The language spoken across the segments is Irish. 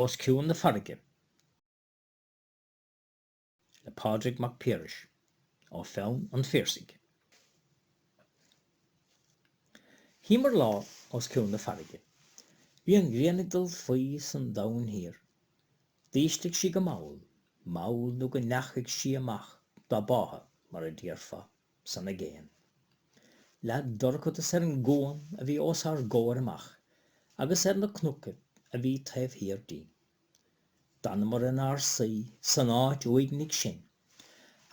Os Cionn na Farraige le Pádraig Mac Piarais ó pheann an Phiarsaigh. Shuíomar lá os cionn na farraige. Bhí an ghrian ag dul faoi san Domhan Thiar. D'ísligh sí go mall, mall nó go ndeachaigh sí amach dá báthadh mar a déarfá. san aigéan. Leath dorchadas ar an gcuan a bhí os ár gcomhair amach agus ar na cnocaibh a bhí taobh thiar dínn. D'fhanamar inár suí san áit uaignigh sin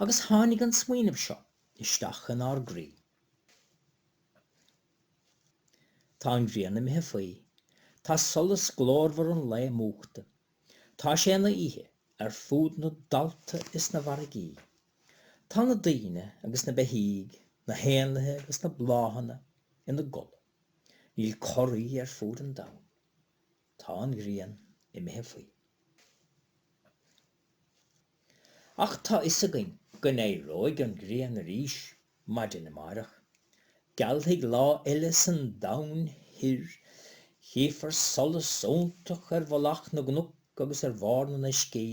agus tháinig an smaoineamh seo isteach inár gcroí. Tá an ghrian imithe faoi, tá solas glórmhar an lae múchta, Tá sé ina oíche ar fud na dtalta is na bhfarraigí. Tá na daoine agus na beithígh, na héanlaithe agus na bláthanna ina gcodladh. Níl corraí ar fud an domhain. Tá an ghrian imithe faoi. Ach tá a fhios againn go n-éireoidh an ghrian arís maidin amárach. Gealfaidh lá eile san domhan thoir. Chífear solas iontach ar mhullach na gcnoc agus ar bharr na n-uiscí.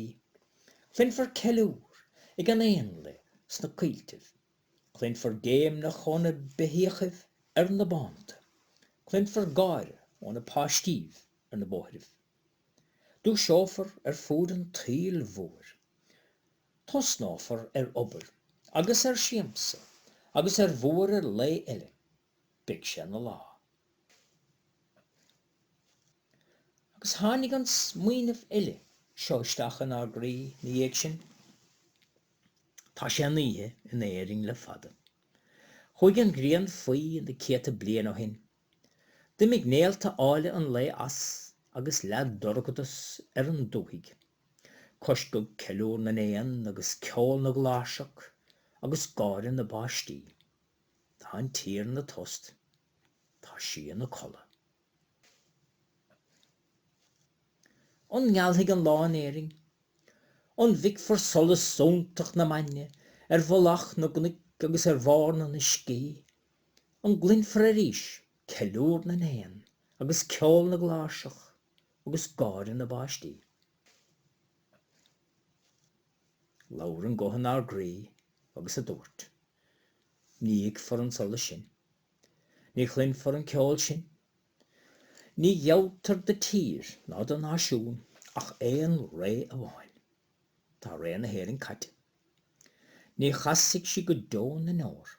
Cluinfear ceiliúr ag an éanlaith sna coilltibh. Cluinfear géimneach ó na beithíochaibh ar na bánta. Cluinfear gáire ó na páistíbh ar na bóithribh. Dúiseofar ar fud an tsaoil mhóir. Tosnófar ar obair agus ar siamsa agus ar bhuaireamh lae eile. Beidh sé ina lá. Agus tháinig an smaoineamh eile seo isteach inár gcroí ina dhiaidh sin, Tá sé ina oíche in Éirinn le fada. Chuaigh an ghrian faoi na céadta bliain ó shin. D'imigh néalta áille an lae as agus leath dorchadas ar an dúthaigh. Coisceadh ceiliúr na n-éan agus ceol na gcláirseach agus gáire na bpáistí. Tá an tír ina tost. Tá sí ina codladh. An ngealfaidh an lá in Éirinn? An bhfeicfear solas iontach na maidne ar mhullach na gcnoic agus ar bharr na n-uiscí? An gcluinfear arís ceiliúr na n-éan agus ceol na gcláirseach agus gáire na bpáistí? Labhair an guth inár gcroí agus a dúirt, 'Ní fheicfear an solas sin. Ní chluinfear an ceol sin. Ní ghealltar do tír ná do náisiún ach aon ré amháin. Tá ré na hÉireann caite. Ní chasfaidh sí go deo na ndeor.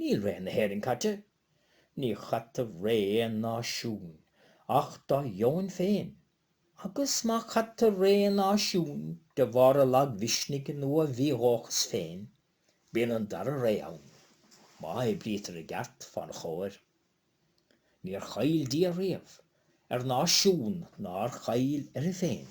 Níl ré na hÉireann caite. Ní chaithtear ré aon náisiúin ach dá dheoin féin, agus má chaithtear ré náisiúin de bharr a lagmhisnigh nó a mhídhóchas féin, bíonn an dara ré ann, má oibrítear i gceart fán chomhair. Níor chaill Dia riamh ar náisiún nár chaill uirthi féin.